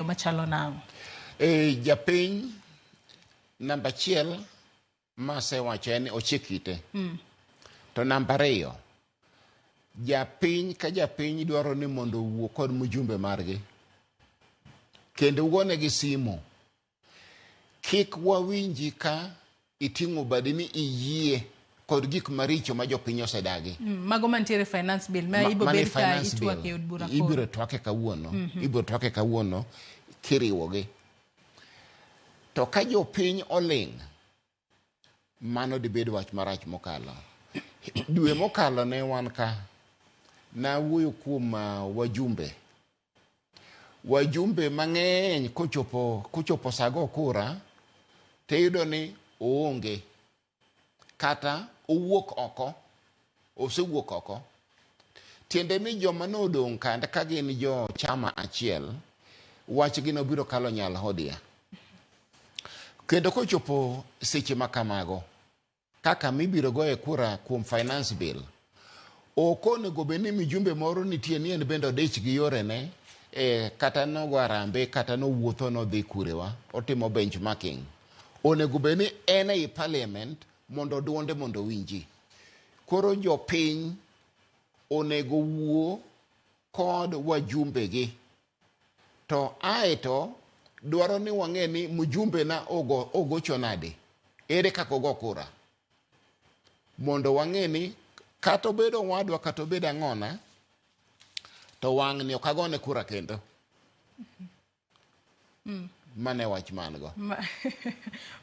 machalo nang'o? E, japiny namba achiel masewacho en ni ochik ite mm. to namba ariyo japiny ka japiny dwaro ni mondo owuo kod mjumbe margi kendo wuonegi simu kik wawinji ka Iting'o badi mi iyie kod gik maricho ma jopiny osedagi. Mm, mago mantiere finance bill ma ibo bed ka itwak e od bura koro. Ibiro twake kawuono, mm -hmm. ibiro twake kawuono kiriwogi. To ka jopiny oling' mano dibed wach marach mokalo. Dwe mokalo ne wan ka nawuoyo kuom uh, wajumbe Wajumbe mang'eny kochopo kochopo saa go kura to iyudo ni oonge kata owuok oko, osewuok oko. Tiende ni joma ne odong' kande ka gin jo chama achiel, wachgi ne obiro kalo nyal hodia. Kendo kochopo seche ma kamago, Kaka mibiro goye kura kuom finance bill. Ok onego bed ni mijumbe moro nitie ni en bende odich gi yorene e, kata nogo arambe kata nowuotho nodhi kurewa otimo benchmarking. Onego bed ni en ei parliament mondo duonde mondo owinji. Koro jopiny onego wuo kod wajumbegi To aeto dwaro ni wang'e ni mjumbe na ogo, ogocho nade, ere kaka ogo kura, mondo wang'e ni kata obedo owadwa kata obedo ang'ona, to wang'ni ok agone kura kendo. Mm. Mane wach man go. Ma,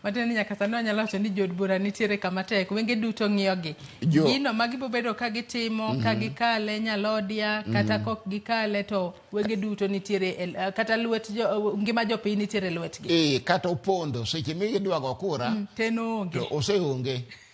matiende ni nyaka sani wanyalo wacho ni jood bura nitiere kama tek wenge duto ng'iyogi Jo- gino ma gibobedo ka gitimo ka gikale nyalodia kata kok gikale to wenge duto nitiere e l- kata lwet jo, ngima jopiny nitiere e lwetgi Eh, kata opondo seche midwago kura te noonge to oseonge.